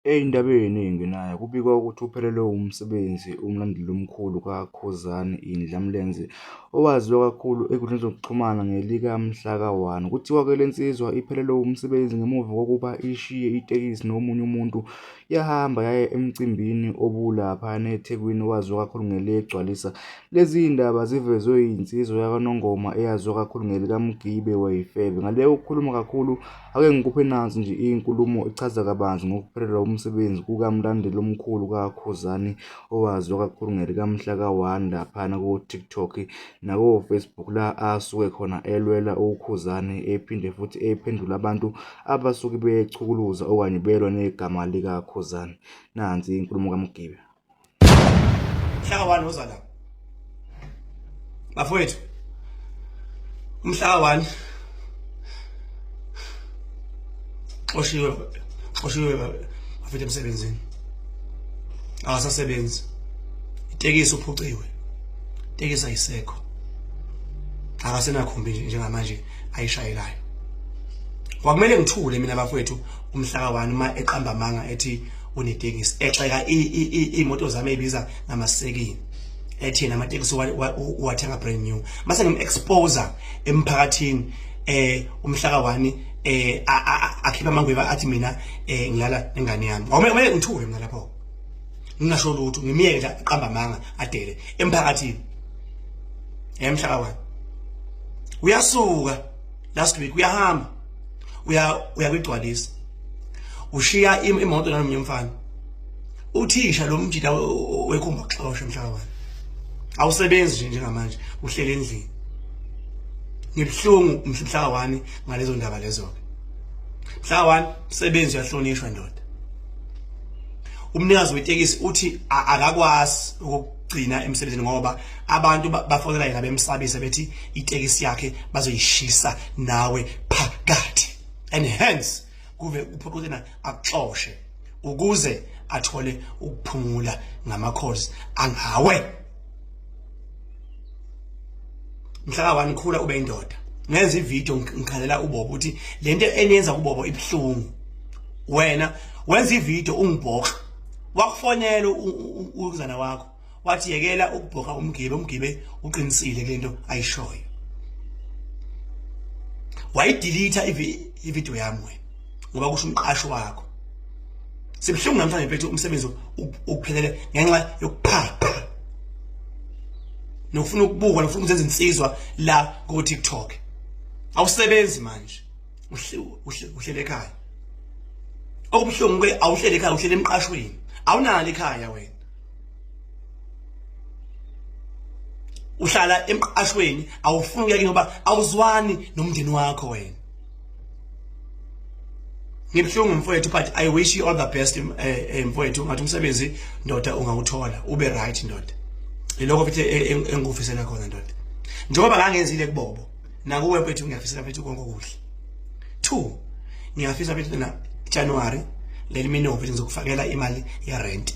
Endabeni engenayo kubikwa ukuthi uphelelwe wumsebenzi umlandeli omkhulu kaKhuzani Indla Mlenze owaziwa kakhulu ezinkundleni zokuxhumana ngelika mhla ka-1. Kuthiwa-ke le nsizwa iphelelwe wumsebenzi ngemuva kokuba ishiye itekisi nomunye umuntu yahamba yaya emcimbini obulaphana eThekwini owaziwa kakhulu ngeligcwalisa. Lezi zindaba zivezwe yinsizwa yakaNongoma eyaziwa kakhulu ngelikaMgibe Wayifebe. Ngale kokukhuluma kakhulu Ake ngikuphe nansi nje inkulumo echaza kabanzi ngokuphelela umsebenzi kukamlandeli omkhulu kaKhuzani owaziwa kakhulu ngelikaMhla ka-1 laphana ku-TikTok nakoFacebook la asuke khona elwela uKhuzani ephinde futhi ephendula abantu abasuke bechukuluza okanye belwa negama likaKhuzani. Nansi inkulumo kaMgibe. mhlaka wani oza la bafowethu umhlaka wani xoshiwe xoshiwe bafethu emsebenzini akasasebenzi itekisi uphuciwe itekisi ayisekho akasenakhumbi njengamanje ayishayelayo kwakumele ngithule mina bafowethu umhlaka wani uma eqamba amanga ethi unetekisi exeka imoto zami ebiza ngamasekini ethina amatekisi uwathenga brand new mase ngim-exposer emphakathini eh umhlaka wani eh akhipha amangweva athi mina eh ngilala nengane yami awumele ngithuke mina lapho ngingasho lutho ngimiyeke nje aqamba amanga adele emphakathini emhlaka wani uyasuka last week uyahamba uya uyakugcwalisa ushiya imoto nalomnye mfana uthisha lo mjita wekhomba kuxosha mhlawumbe awusebenzi nje njengamanje uhlele endlini ngibuhlungu mhla wani ngalezo ndaba lezo ke mhla wani msebenzi uyahlonishwa ndoda umnikazi wetekisi uthi akakwazi gcina emsebenzini ngoba abantu bafonela yena bemsabise bethi itekisi yakhe bazoyishisa nawe phakathi and hence kuve uphoqothena akuxoshe ukuze athole ukuphumula ngamakhozi angawe mhlaka wani khula ube indoda ngenza ivideo ngikhalela ubobo ukuthi lento eniyenza kubobo ibuhlungu wena wenza ivideo ungibhoxa wakufonela ukuzana wakho wathi yekela ukubhoka umgibe umgibe uqinisile kulento ayishoyo wayidelete ivideo yami wena ngoba kusho umqashi wakho sibuhlungu namhlanje bethu umsebenzi ukuphelele ngenxa yokuphapha nokufuna ukubukwa nokufuna ukuzenza insizwa la ku TikTok awusebenzi manje uhlele ekhaya okubuhlungu ke awuhlele ekhaya uhlele emqashweni awunalo ekhaya wena uhlala emqashweni awufuni kuyake ngoba awuzwani nomndeni wakho wena ngibuhlungu mfowethu but i wish you all the best eh, eh, mfowethu ngathi umsebenzi ndoda ungawuthola ube right ndoda ilokho futhi e, e, engikufisela khona ndoda njengoba ngangenzile kubobo nakuwe mfethu ngiyafisa mfethu konke okuhle two ngiyafisa mfethu na January let me know ukuthi ngizokufakela imali ye rent